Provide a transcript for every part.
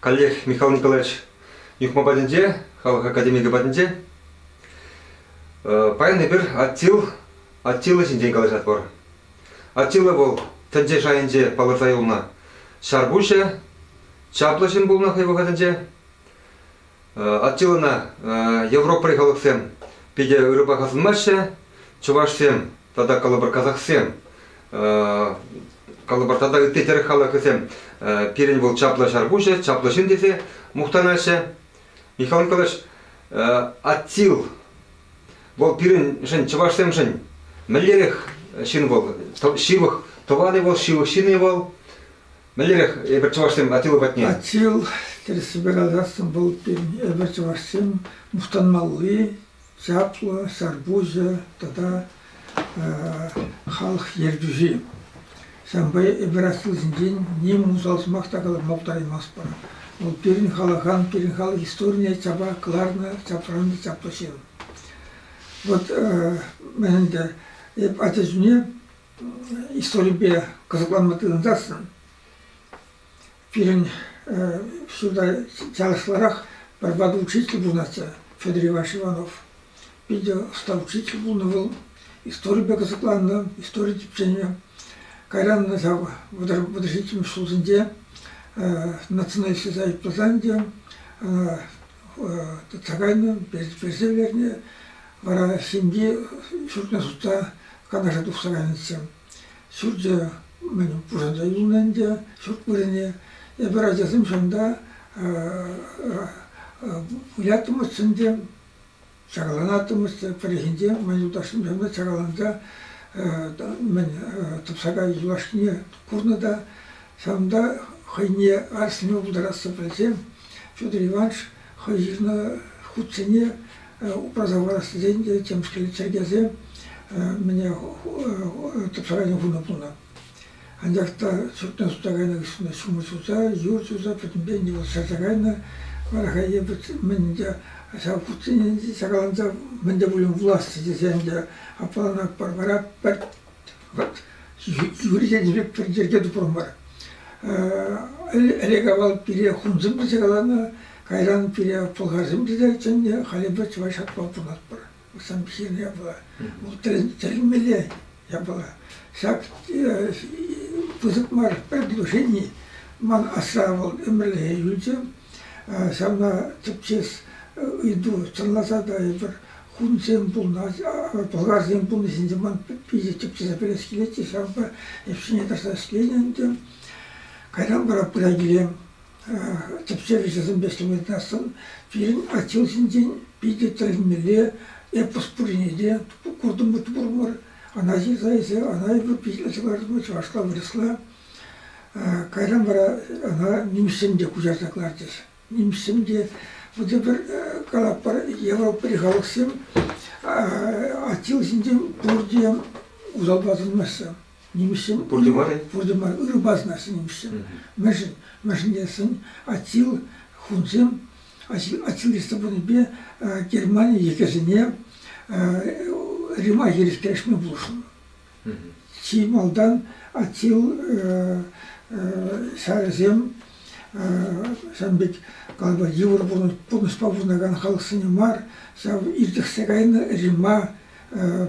Каллех Михаил Николаевич Юхма патӗнче, халӑх академикӗ патӗнче. Паян эпир Аттил, Аттила ҫинчен калаҫатпӑр. Аттила вӑл тӗнче шайӗнче палӑрса юлнӑ ҫарпуҫӗ, чаплӑ ҫын пулнӑ хӑй вӑхӑтӗнче. Аттилана европӑри халӑхсем питӗ ырӑпа асӑнмаҫҫӗ. Чӑвашсем тата калӑпӑр казахсем калӑпӑр тата ытти тӗрӗк халӑхӗсем пирӗн вӑл чаплӑ ҫарпуҫӗ, чаплӑ ҫын тесе мухтанаҫҫӗ. Михаил Николаевич, Аттил вӑл пирӗншӗн, чӑвашсемшӗн мӗнлерех ҫын вӑл? Ҫывӑх тӑванӗ вӑл, ҫывӑх ҫынӗ вӑл. Мӗнлерех эпир чӑвашсем Атила патне? Атил тӗрӗссипе каласам пултӑр. Эпир чӑвашсем мухтанмалли, чаплӑ, сарпуҫӗ тата халӑх ертӳҫи. Ҫавӑнпа эпир аслисенчен ним усал сӑмах та калама пултараймастпӑр. Вӑл пирӗн халӑхан, пирӗн халӑх историне чапа кӑларнӑ, чапраннӑ чаплӑ ҫын. Вот мӗн ӗнтӗ, эп ача чухне историпе кӑсӑкланма тытӑнсассӑн пирӗн ҫурта чашлӑрах пӗрпа учитель пурӑнатчӗ Федор Иванович Иванов. Питӗ ӑста учитель пулнӑ вӑл, историпе кӑсӑкланнӑ, истори тӗпченӗ. Кайран ҫав вӑтӑр ҫиччӗмӗш ҫулсенче Националист Союз пырсан те ӑна тытса кайнӑ, персе кайнӑ. Вара ҫемье ҫуртне сутса Канаша тухса кайнӑччӗ. Ҫурчӗ мӗн пушанса юлнӑ ӗнтӗ, ҫурт вырӑнӗ. Эпир ачасем ҫавӑнта выляттӑмӑрччӗ ӗнтӗ. Чарӑланаттӑмӑр пӗррехинче ман юлташӑмсемпе чарӑланса тӑпсака юлашкине курнӑ та ҫавӑнта хӑйне арӑсланма пултарассӑн пӗлсен Федор Иванович хӑй ҫырнӑ хутсене упраса хӑварас тесен те темскер чӗркесе мӗне тӑпсакасем хунӑ пулнӑ. Анчах та суртна суса кайнӑ хыҫҫӑн ҫумӑр ҫуса, юр ҫуса пӗтӗмпе нивӑс шарса кайнӑ. Вара хай эпӗ мӗн ӗнтӗ ҫав хутсене чакаланса мӗн те пулин вуласчӗ тесе ӗнтӗ аппалан Акпарпара пӗр вӑт чӳречен пек пӗр йӗрке тупрӑмӑр. Ӗлӗк авал пире хунсем те чакаланӑ, кайран пире пӑлхарсем те чӗннӗ, халӗ эпӗ чӑваш атпа тумастпӑр. Усамҫин япала, вӑл тӗлӗнмелле япала. Ҫак пысӑк мар предложени ман асра вӑл ӗмӗрлӗхе юлчӗ. Ҫавна тӗпчес ыйту чӑнласа та эпир хунсем пулнӑ, пӑлхарсем пулнӑ ҫинчен ман питӗ тӗпчесе пӗлес килет те ҫавӑнпа ӗҫне тӑрса ӗҫленӗ ӗнтӗ. Кайран вара пыра киле тӗпчев ӗҫӗсемпе ӗҫлеместӑн, пирӗн аттил ҫинчен питӗ тӗлӗнмелле эпос пуррине те куртӑм та пурӑмӑр. Ана ҫырса эсӗ, ана эпӗ питлесе кӑлартман, чӑвашла, вырӑсла. Кайран вара ана нимӗҫсем те куҫарса кӑларчӗҫ. Нимӗҫсем те вӑтӑр пӗр калатпӑр ял халӑхсем аттил ҫинчен пурте усал асӑнмаҫҫӗ. нимӗҫсем. Пурте мар-и? Пурте мар. Ырӑпа сӑнаҫҫӗ нимӗҫсем. Мӗншӗн? Мӗншӗн тесен Атил хунсем Атил Рестополӗпе Германи йӗкӗсене Рима хирӗҫтерешме пулӑшнӑ. Чи малтан Атил ҫарӗсем ҫавӑн пек калпа йывӑр пурнӑҫпа пурӑнакан халӑхсене мар, ҫав иртӗхсе кайнӑ Рима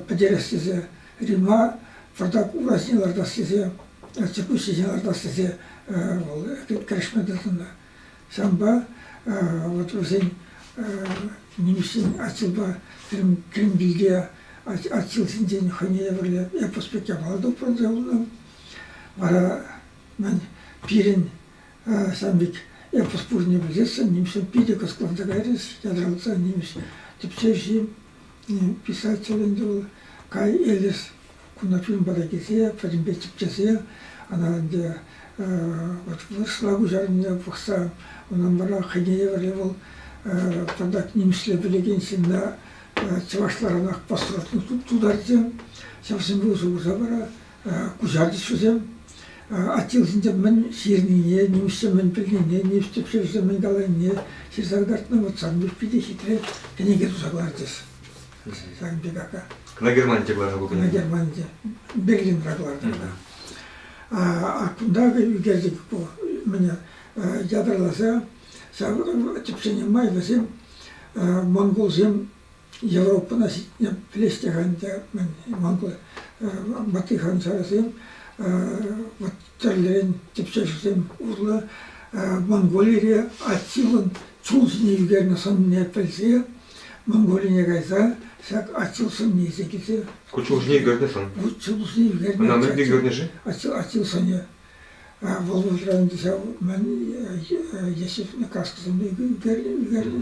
пӗтерес тесе Римла пӑртак урасене лартас тесе, чекуҫҫисене лартас тесе вӑл кӗрешме тытӑннӑ. Ҫавӑнпа вот вӗсен нимӗҫсен аттилпа Кремльте аттилсенчен хӑйне евӗрлӗ эпос пек япала тупрӑнчӗ унӑн. Вара мӗн пирӗн ҫав пек эпос пуррине пӗлсессӗн нимӗҫсем питӗ кӑсӑкланса кайрӗҫ, ятарласа нимӗҫ тӗпчевҫи. Писатель ӗнтӗ вӑл Кай, Элис кунта фильм пата килсе пӗтӗмпе тӗпчесе ӑна ӗнтӗ вот вырӑсла куҫарнине пӑхса унӑн вара хӑйне евӗрлӗ вӑл тӑтах нимӗҫле пӗлекен ҫынна чӑвашларанах пӑсрӑт тултарчӗ. Ҫавсемпе усӑ курса вара куҫартӗҫ вӗсем. Аттилсенче мӗн ҫырнине, нимӗҫсем мӗн пӗлнине, нимӗҫ тӗпчевҫисем мӗн каланине ҫырса кӑтартнӑ. Вот сан мӗш питӗ хитре кӗнеке туса кӑлартӗҫ. Сан пек ака. Кӑна Германинче кӑларнӑ ку кӗнеке. Кӑна Германинче. Берлинра кӑлартнӑ кӑна. А кунта ӳкерчӗк ку мӗне ятарласа ҫав тӗпчене май вӗсем монголсем Европӑна ҫитме пӗлеҫҫӗ-ха ӗнтӗ мӗн манглӑ ваттихан ҫарӗсем. Вӑт тӗрлӗрен тӗпчевҫӗсем урлӑ Монголире Аттилӑн чул ҫине ӳкернӗ сӑнне пӗлсе Монголине кайса ҫак Аттил сӑннисем килсе. Ку чул ҫине ӳкернӗ сӑн? Вут чул ҫине ӳкернӗ. Ӑна мӗнле ӳкернӗ-ши? Аттил Аттил сӑнӗ. Вӑл вӑхӑтра ӗнтӗ ҫав мӗн Ешев кашкӑсем ӳкернӗ.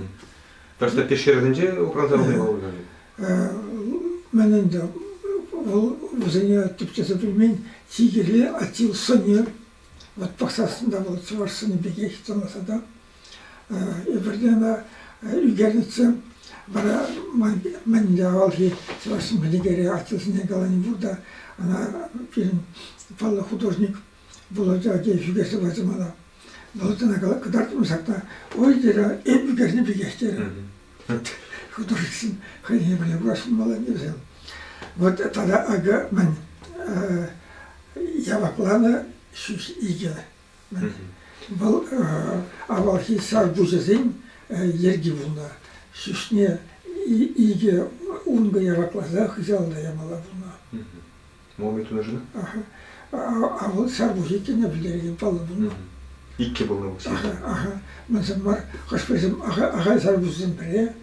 Пӗр статья ҫырӑвӗсенче упранса пулни палӑртать-и? Ман ӗнтӗ вӑл вӗсене тӗпчесе пӗлмен чи кирли Атил сӑнер. Вот пӑхсассӑн вӑл чӑваш сӑнӗ пекех тӑнаса та. Эпирте ӑна ӳкернӗччӗ. Вара мӗнле авалхи чӑваш сӑмӑхӗ Атилсене калани пур та ӑна пирӗн паллӑ художник Вӑл ача ҫӳле сӑваҫҫӗ мана. Вӑл ӑна кӑтартрӑм ҫакна. Ой, терӗ, эпӗ кӗрсе пикех терӗ. От художествен хӑйне пӗле курасшӑн малайне вӗсем. Вот тата акӑ мӗн явапланӑ ҫӳҫ икӗ. Вӑл авалхи сарпуҫӗсен йӗрки пулнӑ. Ҫӳҫне икӗ ункӑ явакласа хыҫалта ямалла пулнӑ. Муми тунӑшӑн? А вӑл ҫав пур иккенне пӗлтерекен паллӑ пулнӑ. Иккӗ пулнӑ пуҫ. Мӗнсем мар, хӑш-пӗрисем ахаль сар пуҫсен пӗрре,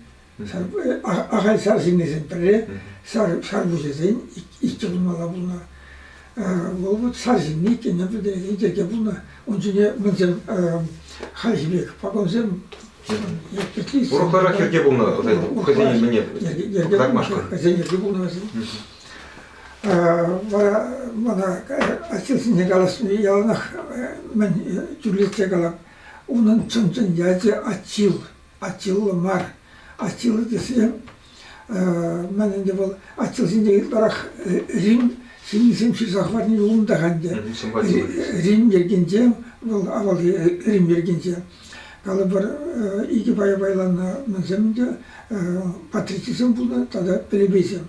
ахаль сар ҫыннисен пӗрре, сар пуҫӗсен иккӗ пулмалла пулнӑ. Вӑл вот сар ҫынни иккенне пӗлтерекен йӗрке пулнӑ. Ун ҫине мӗнсем хальхи пек пакансем урӑхларах йӗрке пулнӑ хӑйсен мӗне кӑтартмашкӑн. Хӑйсен йӗрке пулнӑ вӗсен. Вара мана ачасене калаҫни яланах мӗн тӳрлетсе калам. Унӑн чӑн-чӑн ячӗ Аттил. Аттилла мар. Аттила тесен мӗн ӗнтӗ вӑл Аттилсенче ытларах Рим ҫыннисем ҫырса хӑварни унтах ӗнтӗ. Рим йӗркинче вӑл авалхи Рим йӗркинче. Калӑпӑр икӗ пая пайланӑ мӗнсем ӗнтӗ патричӗсем пулнӑ тата плебейсем.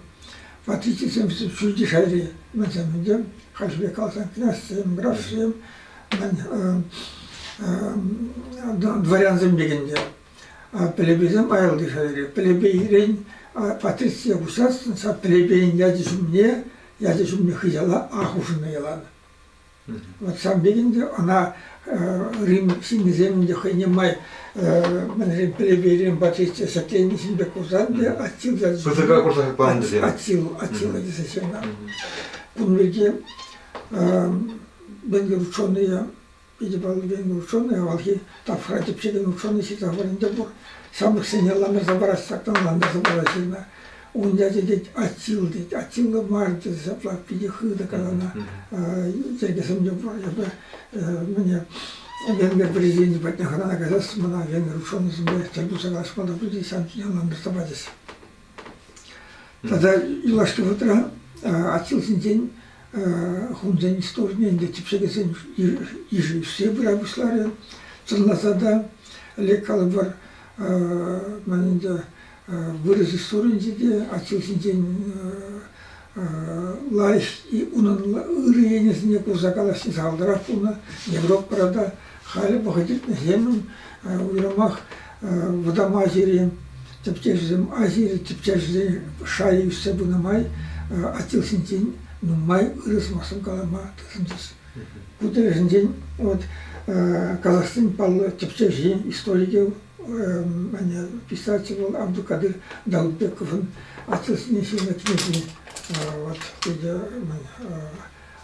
Водительсем ҫӳлти шайри вӗсем хальхи пек каласан князьсем, графсем, дворянсем пекен те. Пелепейсем аялти шайри. Пелепейрен патрицие куҫасшӑн, ҫав пелепейӗн ячӗ ҫумне, ячӗ ҫумне хыҫала А хушӑннӑ ялан. Вот сам пек ӗнтӗ, ӑна Рим ҫыннисем ӗнтӗ хӑйне май мӗншӗн плебейрен патши сотленисен пек курсан те Аттил тесе Сутӑка курса панӑ тесе. Аттил, Аттила тесе ҫырнӑ. Кун пирки Бенкер ученӑйӗ Питӗпаллисен ученый авалхи тапхӑра тӗпчекен ученый ҫырса пынӑ пур. Ҫамрӑксене ламӑрса парас чакан лантарса пама ҫырнӑ. Ун ячӗ тет Аттил тет. Аттилла мар тесе ҫапла питӗ хытӑ каланӑ йӗркесемпе пур. Эпӗ мӗне Венгер президенчӗ патне хӑнана каяс мана венгер ученӑйсемпе тӗл пулса калаҫма та пычӗҫ, ҫавӑн ҫине лантарса пачӗҫ. Тата юлашки вӑхӑтра Атьӑлҫинчен хунсен столне ӗнтӗ типшекесен йышӗ ӳссе пыра пуҫларӗ. Чӑнласа та лек калӑпӑр ман ӗнтӗ вырӑс историйӗнче те Атьӑлҫинчен лайӑх унӑн ырӑ енӗсене курса калаҫни сахалтарах пулнӑ. Европӑра та халӗ вӑхӑт иртнӗҫемӗн уйрӑмах вӑтам Азири тӗпчевҫӗсем Азири тӗпчевҫӗсен шайӗ ӳссе пынӑ май Атилсенчен нумай ырӑ сӑмахсем калама тытӑнчӗҫ. Ку тӗлӗшӗнчен вот казахстан паллӑ тӗпчевҫин историкӗ Ӗ-ӗ-ӗ писатель вӑл Абдулкадир Далбековӑн «Отцӗсене ҫырнӑ кӗнекине» вот питӗ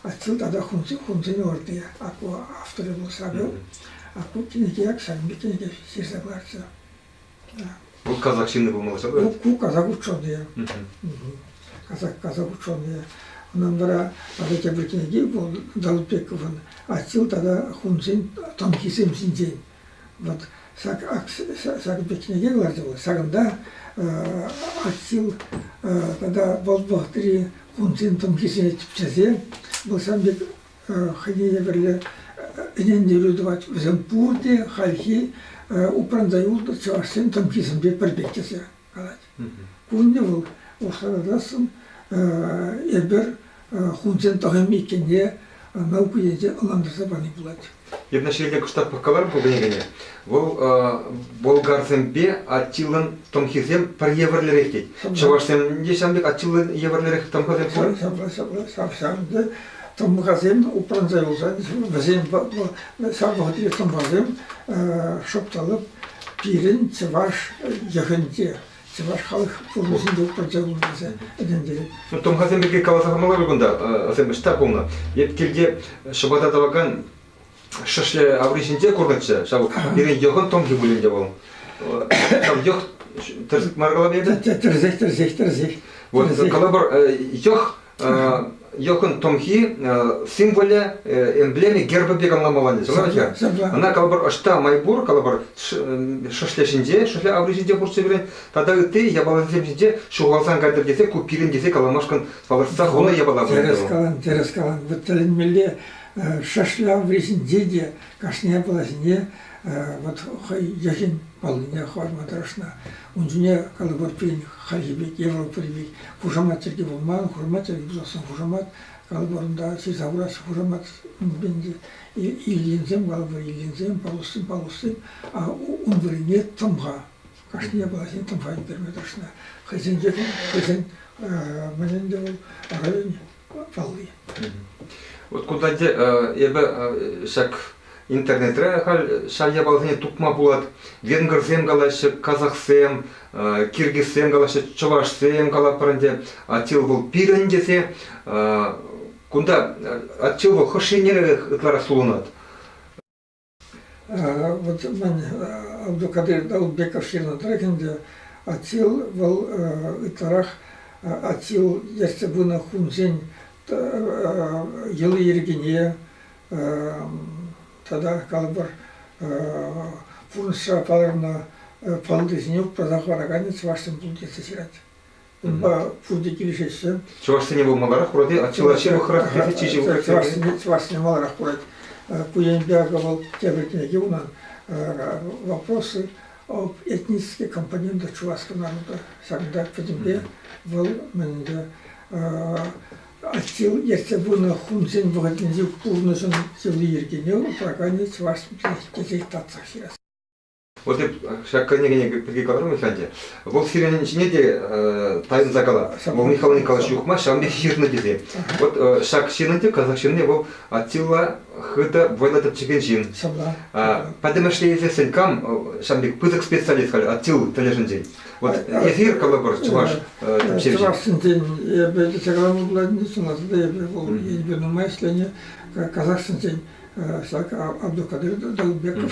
отцӑн тата хунсен ӑрти ку авторӗ вӑл ҫакӑ. Ку кӗнеке ҫакӑнпа кӗнеке ҫырса кӑларчӗ. Вӑл казак ҫынни пулмалла ҫав? Ку казак ученӑйӗ. Казак казак ученӑйӗ. Унӑн вара тата тепӗр кӗнеки вӑл Далбековӑн «Атил тата хунсен танкисем ҫинчен». Вот ҫак ҫак пикнике ларчӗ вӑл. Ҫакӑнта Аттил тата вӑл вӑхӑтри кунсен тӑмхисене тӗпчесе вӑл ҫавӑн пек хӑйне евӗрлӗ ӗнентерӳ тӑвать. Вӗсем пурте хальхи упранса юлнӑ чӑвашсен тӑмхисемпе пӗр пек тесе калать. Кунне вӑл ӑшӑтассӑн эпир хунсен тӑхӑмӗ иккенне наука енче ӑнлантарса пани пулать. Иртнӗҫӗрелле кӑштах пӑхкаларӑм ку кӗнекене. Вӑл болгарсемпе аттилӑн тӑмхисем пӗр евӗрлӗрех тет. Чӑвашсем те ҫавӑн пек аттилӑн евӗрлӗрех тӑмхасем пур. Ҫапла, ҫапла, ҫавӑн пек тӑмхасем упранса юлсан вӗсем ҫав вӑхӑтри тӑмхасем шӑпталӑп Пирӗн чӑваш йӑхӗнче, чӑваш халӑх пурнӑҫӗнче пӗрчӗ пулнӑ тесе ӗнентерет. Тӑмхасем пирки каласа памалла кунта асем ӑҫта пулнӑ. Эп килте ҫӑпата тӑвакан шӑшлӗ аври ҫинче курнӑччӗ. Ҫав пирӗн йӑхӑн томхи пуль ӗнтӗ вӑл. Ҫав йӑх тӗрсек мар калап эпӗ? Тӗрсех, тӗрсех, тӗрсех. Вот калапӑр йӑх Йӑхӑн тӑмхи символӗ, эмблеми герба пек ӑнламалланӗ. Сӑмӑрча. Ӑна калӑпӑр ӑҫта май пур, калӑпӑр шӑшле ҫинче, шӑшле аври ҫинче хурчӗ вӗрен, тата ытти япаласем ҫинче ҫухалсан кайтӑр тесе ку пирӗн тесе каламашкӑн палӑртса хунӑ япала тӗрӗс калан, тӗрӗс калан. Вот тӗлӗнмелле шӑшле аври ҫинче те кашни япала ҫине вот хӑй йӑхӗн паллине хӑварма тӑрӑшнӑ. Ун ҫине калӑпӑртин хайхи пек, европӑри пек хушамат чӗлхи пулман, хушамат чӗлхи пулсассӑн хушамат, калӑпӑрунта ҫырса хурас хушамат иллинсем, калӑпӑр иллинсем, палустсем, палустсем, а ун вырӑнне тӑмха. Кашни япала ҫине тӑмха ӳкерме тӑрӑшнӑ. Хӑйсенче хӑйсен мӗн ӗнтӗ вӑл район палли. Вот кунтанхи эпӗ ҫак интернетре халь ҫав япаласене тупма пулать. Венгрсем калаҫҫӗ, казахсем, киргизсем калаҫҫӗ, чӑвашсем калапӑр ӗнтӗ. Атил вӑл пирӗн тесе кунта Атил вӑл хӑш еннерех ытларах сулӑнать? Вот мӗн, Абдулкадир Даутбеков ҫырнӑ тӑрӑх ӗнтӗ, Аттил вӑл ытларах Аттил ертсе пынӑ хунсен йӑли-йӗркине тата калӑпӑр пурнӑҫра палӑрнӑ паллисене упраса хӑвараканӗ чӑвашсем пуль тесе ҫырать. пурте килӗшеҫҫӗ. Чӑвашсене вӑл маларах курать-и? Чӑваш ҫывӑхрах килсе чи ҫывӑх Чӑвашсене маларах курать. Ку енпе акӑ вӑл тепӗр кӗнеке унӑн «Вопросы об этнической компоненте чувашского народа». Ҫакӑнта пӗтӗмпе вӑл мӗнле Аттил ертсе пынӑ хунсен вӑхӑтӗнчи пурнӑҫӑн йӑли-йӗркине упраканӗ чӑваш тесе татсах ҫырас. Вот ҫак кӗнеке пирки каларӑмӑр ӗнтӗ. Вӑл сирӗн ҫине те тайӑнса кала. Вӑл Михаил Николаевич Юхма ҫавӑн пек ҫырнӑ тесе. Вот ҫак ҫынӑн те, казах ҫынни вӑл Аттила хытӑ вӑйлӑ тӗпчекен ҫын. Пӗтӗмӗшле илсессӗн кам ҫавӑн пек пысӑк специалист халь Аттил тӗлӗшӗнчен? Вот эсир калӑпӑр чӑваш тӗпчевҫи. Чӑвашсенчен эпӗ тетяграммӑлатӑн сӑнасӑр эпӗ вӑл эпӗ нумай ӗҫленӗ казахсенчен ҫак Абдулкадир Далбеков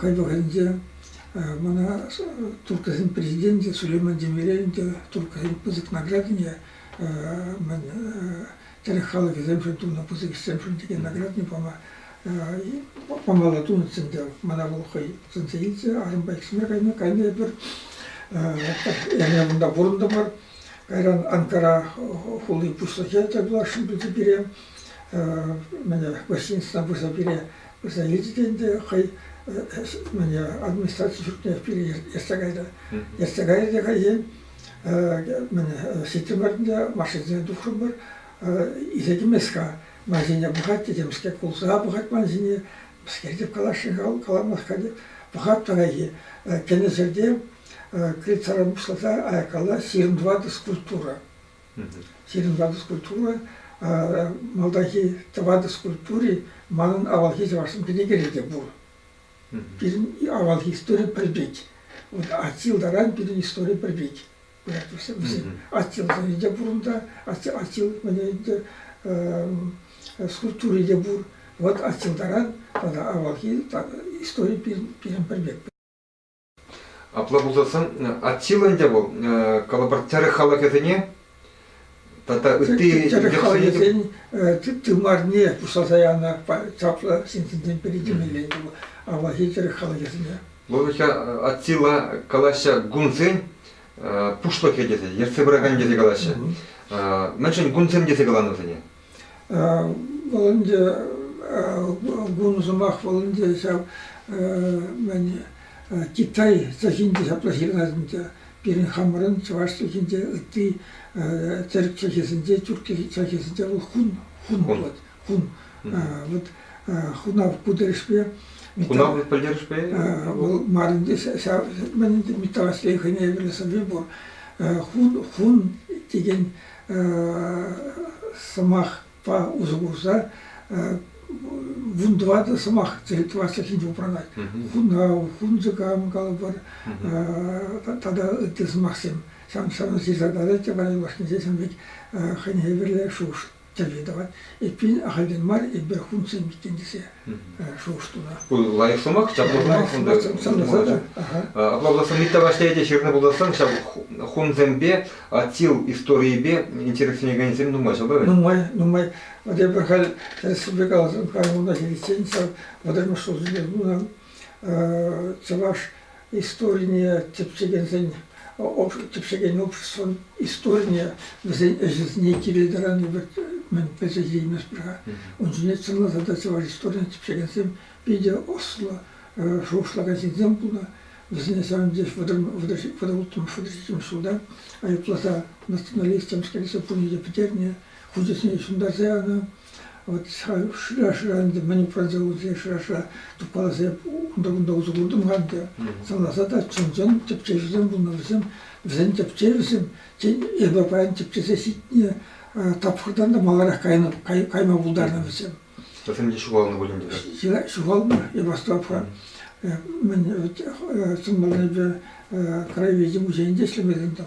Хӑй вӑхӑтӗнче мана турккасен президенчӗ Сулейман Демирель ӗнтӗ турккасен пысӑк наградине мӗн тӗрӗк халӑхӗсемшӗн тунӑ пысӑк ӗҫсемшӗн текен наградине пама памалла тунӑччӗ ӗнтӗ. Мана вӑл хӑй сӗнсе илчӗ арӑмпа иксӗмӗр кайнӑ. Кайнӑ эпир эрне кунта пурӑнтӑмӑр. Кайран Анкара хули пуҫлӑхӗ тӗл пуласшӑн пулчӗ пире. Мене гостиницӑна пырса пире Залити те ӗнтӗ хӑй администраци ҫуртне пире ертсе кайрӗ. Ертсе кайрӗ те хӑйен ҫитрӗмӗр машинсене тухрӑмӑр. Исе кӗмест-ха. Ман ҫине пӑхать те темскер кулса пӑхать ман ҫине. Мӗскер теп каласшӑн каламасть-ха теп. Пӑхать паянхи кӗнӗ ҫӗрте крыльцаран пуҫласа аяккалла ҫирӗм тӑватӑ скульптура. Сирӗн ялти скульптура малтанхи тӑватӑ скульптури манӑн авалхи чӑвашсем кӗнекере те пур. Пирӗн авалхи истори пӗр пек. Вот Аттил таран пирӗн истори пӗр пек. Пуять вӗсем. Аттил сӑнӗ пур унта. Аттил ӗнтӗ скульптури те пур. Вот Аттил таран тата авалхи истори пирӗн пӗр пек. Апла пулсассӑн Аттила ӗнтӗ вӑл калӑпӑр тӗрӗк халӑхӗсене тата ытти тӗрӗк халӑхӗсен тымарне пуҫласа янӑ чаплӑ ҫынсенчен пӗри темелле ӗнтӗ вӑл авалхи тӗрӗк халӑхӗсене. Логика Аттила калаҫҫӗ гунсен пуҫлӑхӗ тесе, ертсе пыракан тесе калаҫҫӗ. Мӗншӗн гунсем тесе каланӑ вӗсене? Вӑл ӗнтӗ ку сӑмах вӑл ӗнтӗ ҫав мӗн Китай чӗлхинче ҫапла ҫырӑнать ӗнтӗ. Пирӗн хамӑрӑн чӑваш чӗлхинче ытти тӗрӗк чӗлхесенче, тӳрк чӗлхесенче вӑл хун, хун пулать, хун. Вот хунав ку тӗлӗшпе Хунав пӗлтерӗшпе? Вӑл мар ӗнтӗ, ҫав мӗн ӗнтӗ металлослей хӑйне евӗрлӗ сӑвви пур. Хун, хун текен сӑмахпа усӑ курса вун тӑватӑ сӑмах творчествинче упранать. Хунав, хунчӑкам калӑпӑр, тата ытти сӑмахсем. Ҫавӑн ҫавӑн ҫырса тӑрать те варян башнинче ҫавӑн пек хӑйне евӗрлӗ шухӑш тӗлли тӑвать. Эппин, ахальтен мар эпир хунчсем иккен тесе шухӑш туса. лайӑх сӑмах, ҫак пурнӑҫ унта Апла пулассан ытти влаҫре те ҫырнӑ пулассан ҫав хунсемпе Атил историйӗпе интересленекенсем нумай ҫав правильно? Нумай, нумай. Вот я халь республика Казахстана ҫитиччен ҫав вӑтӑрмӗш ҫулсенче тунӑ чӑваш Историне тӗпчекен обществӑн историне, вӗсен ӗҫӗсене кирил тӑрани пек мӗн пӗлсе тивмест-пӗр-ха. Ун ҫине чӑнласа та чӑваш историне тӗпчекенсем питӗ ӑслӑ шухӑшлакан ҫынсем пулнӑ. Вӗсене ҫавӑн пекех вӑтӑрулттӑмӗш вӑтӑр ҫиччӗмӗш ҫулта айӑпласа националистсем кӗрсе пурне те пӗтернӗ, хучӗсене ҫунтарса янӑ. Вот шырашра ӗнтӗ мӗн пырса урса шыраша тупаласем унта-кунта усӑ куртӑм-ха ӗнтӗ. Сӑнласа та чӑн-чӑн тӗпчевҫӗсем пулнӑ вӗсем. Вӗсен тӗпчевӗсем, тен, эпӗ паян тӗпчесе ҫитнӗ тапхӑртан та маларах кайнӑ, кайма пултарнӑ вӗсем. Вӗсем те ҫухалнӑ пулин те. Ҫухалнӑ, эпос тапха. Мӗн сӑнмаллипе краеведе музейӗнче ӗҫлемелле там.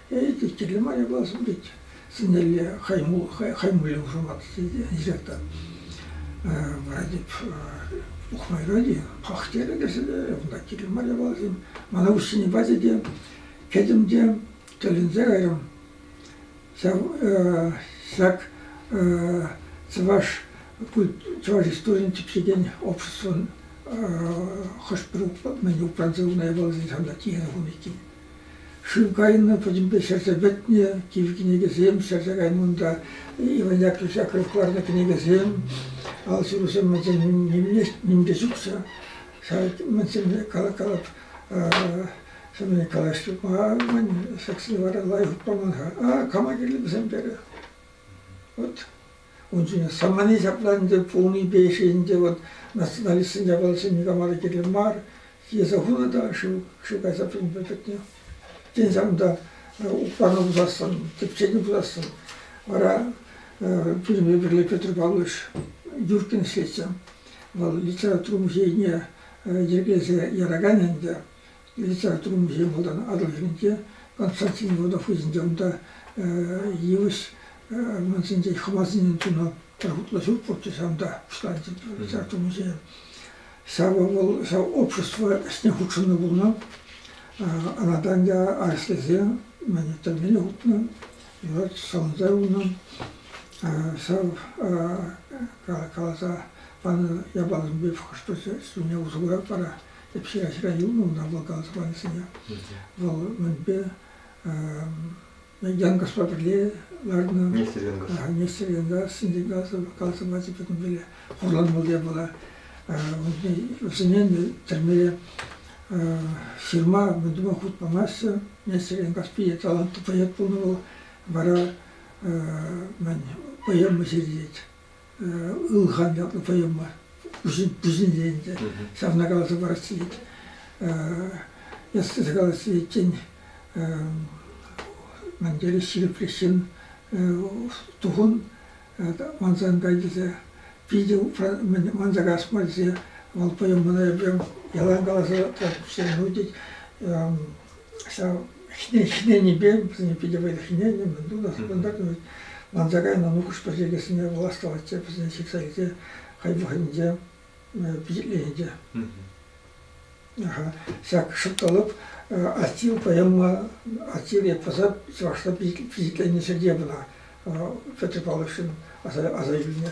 Эй, теттелле мая классом тет. Сӗнелле хаймулли хушамат директор. Вара теп ухмайрали, пахтере кӗрселе, унта киле мая балсем. Мана уҫсене базе те, кӗтӗм те тӗлӗнсе кайрӑм. Ҫак чӑваш чӑваш историйӗн типсекен обществӑн хӑш-пӗр мӗн упранса унай балсен ҫавна тиенӗ хум иккен. Шыв кайнӑ пӗтӗмпе ҫӗрсе пӗтнӗ, кив кӗнекесем ҫӗрсе кайнӑ унта, Иван Яковлевич Акров кӑларнӑ кӗнекесем, алҫырусем мӗншӗн нимле чухса. Ҫав мӗншӗнне калап-калап калаҫтӑма мӗн саксене вара лайӑх паман-ха. А кама кирлӗ вӗсем терӗ. Вот. Унччен самани ҫапла ӗнтӗ пулнипе ӗҫе ӗнтӗ вот националистсен япалисем никама та кирлӗ мар. Йӗсе хунӑ та шыв шыв кайса пӗтнӗ пӗтнӗ. Тен ҫав унта укпану пусассӑн, тӗпчени пусассӑн. Вара пирӗнпе пӗрле Петр Павлович Юркин ӗҫлетчӗ. Вӑл литература музейне йӗркелесе яракан ӗнтӗ. литературӑмӑрсене малтан Атӑл хӗрринче, Константин Родофызӗнче, унта йывӑҫ армансенче хӑмасене тунӑ пӗр хутлӑ ҫурт пурччӗ ҫавӑнта пуҫланчӗ литература музейӗ. Ҫавӑ вӑл ҫав общество ӗҫне хутшӑннӑ пулнӑ. Анатанья арӑслисем мӗн тӗлмене хутнӑ, юрать савӑнса юлнӑ. Ҫав каласа панӑ япаласемпе хӑш-пӗр ҫӗрне усӑ курать вара Тӗпчекесре юлнӑ ӑна вулакан сӑнарӗсене. Вӑл мӗнпе Янкӑшпа пӗрле ларнӑ. Нестер Янкӑш. Нестер Янкаш, Синдикасов, Калсов ачи пӗтӗм пӗле хурланмалла пулать. Вӗсене тӗрмере ҫырма мӗн тума хут памаҫҫӗ. Нестер Янкаш питӗ талантлӑ поэт пулнӑ вӑл. Вара мӗн поэма ҫырет. ылхан ятлӑ тӑйӑм мар, пуҫӗнче ӗнтӗ. Ҫавна каласа парас вӗт, если калас вӗтен, мӗн тери ҫирӗпрех ҫын тухӑн мансан кайдесе питӗ манса касма тесе вӑл тӑйӑмна эпӗ ялан каласа тӑратчӗ. Ну тет, ҫав хӗненипе вӗсене питӗ вӑйлӑ хӗненӗ мӗнпур та кунта манса кайнӑ нухӑҫпа чиркӗсене властвовать вӗсене ҫыхса илсе хӑй вӑхӑтӗнче пичетленӗ ҫак шӑртталӑп аттил поэма аттил эпоса чӑвашла пичетленнӗ ҫӗрте пынӑ Петр Павловичӑн аса аса илнӗ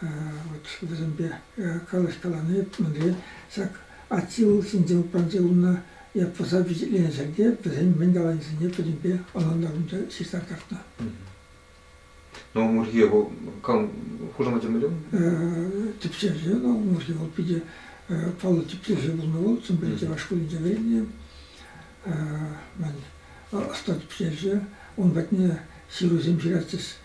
Вот вӗсемпе калаҫкалани мӗнре ҫак отсил ҫинче упранче курнӑ ятлӑса впечатленӗ ҫӗрте вӗсен мӗн каланисене пӗтӗмпе ӑнлантарнинче ҫыхса кӑтартнӑ. Наумурхе вӑл хушамачӗ мӗнле? Типчевҫӗ Наумурхе вӑл питӗ паллӑ типчевҫӗ пулнӑ вӑл Чӑмпи чӑваш шкулӗнче вӗреннӗ. Мӗн ӑста типчевҫӗ. Ун патне ҫырусем ҫыратчӗҫ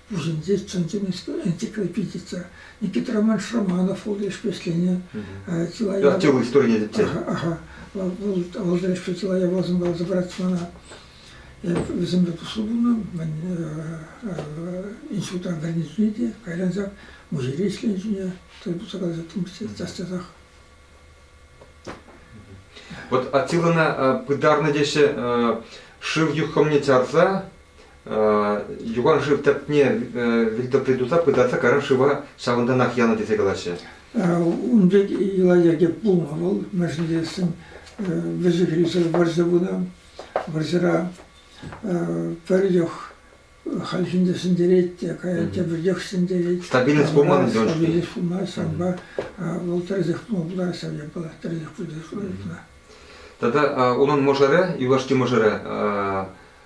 Вӗсенче чӑн-чӑн энциклопедица. Никит Романович Романов вӑл лешпе ӗҫленӗ. Чылай Артёвый историне тетте. Ага. Вӑл вӑл лешпе чылай япаласемпе разобраться мана. Я вӗсемпе туслӑ пулнӑ. Мен институтан гарнизон ҫӳнӗ кайран ҫак музейре ӗҫленӗ ҫӳнӗ. Тӗл пулса калаҫаттӑм час-часах. Вот Атилана пытарнӑ теҫҫӗ шыв юххӑмне чарса юхан шыв тӗпне вилтӑпри туса пытарса каран шыва ҫавӑнтанах янӑ тесе калаҫҫӗ. Ун пек йӑла-йӗрке пулнӑ вӑл. Мерседесӗн вӗҫӗ-хирӗҫӗ вӑрҫӑ пынӑ. Вӑрҫӑра пӗр чух хальхинче ҫӗнтерет те, каять тепӗр чух ҫӗнтерет. Стабильность пулман ӗнтӗ ун Стабильность пулман, ҫавӑнпа вӑл тӗрӗсех пулма пулать, ҫав япала тӗрӗсех пулать. Тата унӑн мӑшӑрӗ, юлашки мӑшӑрӗ,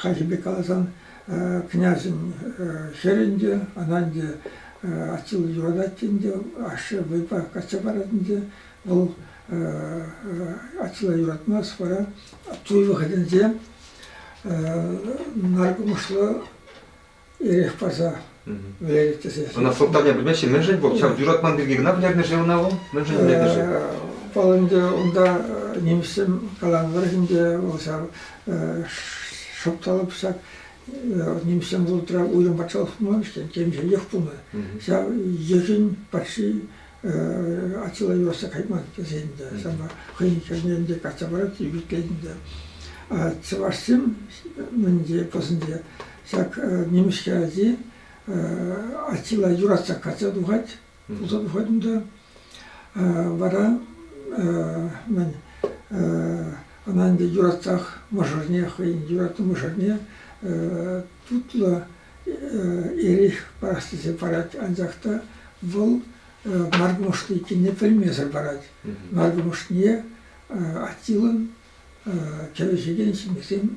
Хальхипе каласан, княҫӑн хӗрӗ ӗнтӗ, ӑна ӗнтӗ Аттила юратать ӗнтӗ, ашшӗ вӑйпа качча парать ӗнтӗ. Вӑл Аттила юратмасть вара туй вӑхӑтӗнче наркӑмӑшлӑ Эрех парса вӗлерет тесе. Ӑна сӑлтавне пӗлмеҫҫӗ. Мӗншӗн вӑл ҫав юратман пирки кӑна вӗлернӗ-ши ӑна вӑл? Мӗншӗн вӗлетӗ-ши? Вӑл ӗнтӗ унта нимӗҫсем каланӑ тӑрӑх ӗнтӗ вӑл ҫав шӑпталӑп ҫак нимӗҫсем вӑхӑтра уйрӑм патшалӑх пулман иккен, темшӗнех пулнӑ. Ҫав йӑхӗн патши Аттила юрасса кайман тесе ӗнтӗ. Ҫавна хӑйӗн хӗрне ӗнтӗ качча парать, ӳкӗтлет ӗнтӗ. А чӑвашсем мӗнле пӑсӑнче Ҫак нимӗҫке ачи Аттила юратса качча тухать, пулса тухать унта. Вара мӗн, ӑна ӗнтӗ юратсах мӑшӑрне, хӑйӗн юратнӑ мӑшӑрне тутлӑ эрех парас тесе парать, анчах та вӑл наркӑмӑшли иккенне пӗлмесӗр парать. Наркӑмӑшне Аттилӑн кӗвӗҫекен ҫемьесем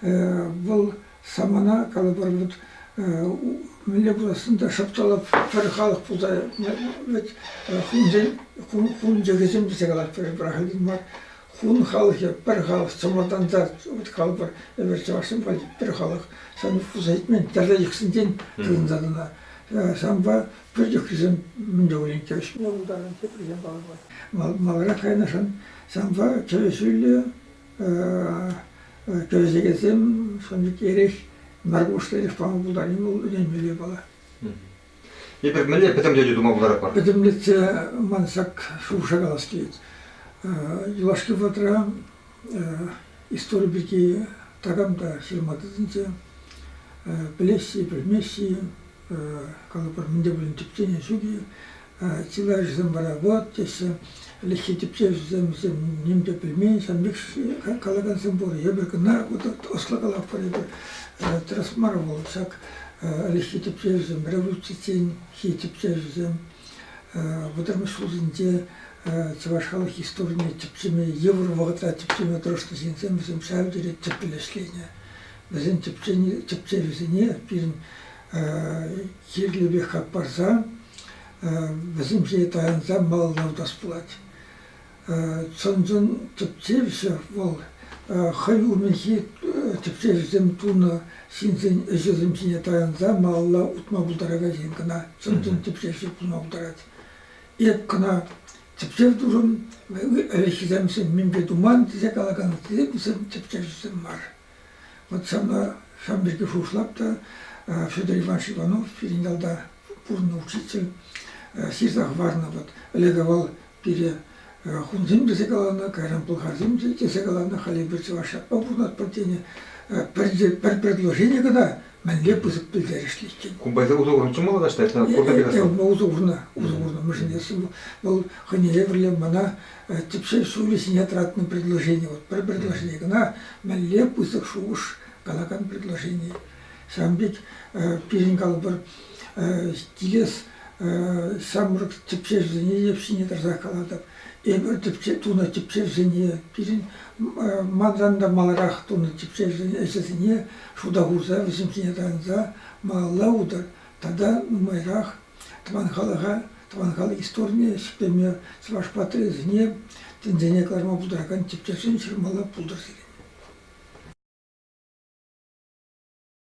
Вӑл самана, калӑпӑр, вот мӗнле пулассӑн та шӑпчалап пӗр халӑх пулса вӗт хунсен хун чӗкӗсем тесе калатпӑр эпир ахальтен мар. Хун халӑхӗ пӗр халӑх чӑмӑртанса вот калӑпӑр эпир чӑвашсем валли пӗр халӑх сан пулса ҫитмен тӗрлӗ йӑхсенчен тытӑнса тӑнӑ. Санпа пӗр чухрисем мӗн те пулин кӗвӗҫме пултарнӑ теприсем калӑпӑр. Маларах кайнӑшӑн санпа кӗвӗҫӳллӗ кӗвӗсекенсем сан пек эрех наркӑмӑшлӑ эрех тума пултарни вӑл ӗненмелле япала. Эпир мӗнле пӗтӗмлетӳ тума пултаратпӑр? Пӗтӗмлетсе ман ҫак шухӑша калас килет. Юлашки вӑхӑтра истори пирки такам та ҫырма тытӑнчӗ. Пӗлесси, пӗлмесси, калӑпӑр, мӗн те пулин тӗпчене ҫук-и, Чылайӑшӗсем вара вӑт теҫҫӗ. Ӗлӗкхи тӗпчевҫӗсем вӗсем нимпе пӗлмен, сан пек калакансем пур. Эпир кӑна ӑслӑ калатпӑр, эпир тӗрӗс мар вӑл ҫак ӗлӗкхи тӗпчевҫӗсем, революцисенхи тӗпчевҫӗсем. Вӑтамиш ҫулсенче чӑваш халӑх историне тӗпчеме, йывӑр вӑхӑтра тӗпчеме тӑрӑшнӑ ҫынсем вӗсем ҫав тери тӗплӗ ӗҫленӗ. Вӗсен тӗпчевӗсене пирӗн кирлӗ пек хак парса Вӗсемшӗн таянса маллатас пулать. Чӑн-чӑн тӗпчевҫӗ вӑл хӑй умӗнхи тӗпчевҫӗсем тунӑ ҫынсен ӗҫӗсем ҫине таянса малалла утма пултаракансен кӑна чӑн-чӑн тӗпчевҫи пулма пултарать. Эп кӑна тӗпчев турӑм, ӗлӗкхисем мӗнпе туман тесе калакан тӗпчевҫӗсем мар. Вӑт ҫавна ҫавӑн пирки шухӑшлап та Федор Иванович Иванов пирӗн ялта пурӑннӑ учитель ҫырса хӑварнӑ вӑт. Ӗлӗкӗ вӑл пире хунсем тесе каланӑ, кайран пӑлхарсем тесе каланӑ, халь эпир чӑваш ятпа пурӑнатпӑр тенӗ. Пӗр предложение кӑна мӗнле пысӑк пӗлтерӗшлӗ иккен. Кумбайсем усӑ курнӑччӗ мала таҫта, это курнӑ пек. Усӑ курнӑ, усӑ курнӑ, мӗшӗн эсӗ вӑл хӑйне евӗрлӗ мана тӗпчев ҫулӗ ҫине тӑратнӑ предложени. Вот пӗр предложени кӑна мӗнле пысӑк шухӑш калакан предложени. Ҫавӑн пек пирӗн калӑпӑр килес ҫамрӑк тӗпчевҫӗсене те ҫине тӑрсах калатӑп. Эпир тӗпче тунӑ тӗпчевсене, пирӗн манран та маларах тунӑ ӗҫӗсене шута хурса вӗсем ҫине тӑранса малалла утар тата нумайрах Тӑван халӑха, тӑван халӑх историне ҫӗклеме чӑваш патриотӗсене тӗнчене кӑларма пултаракан тӗпчевсем ҫырмалла пултӑр сирӗн.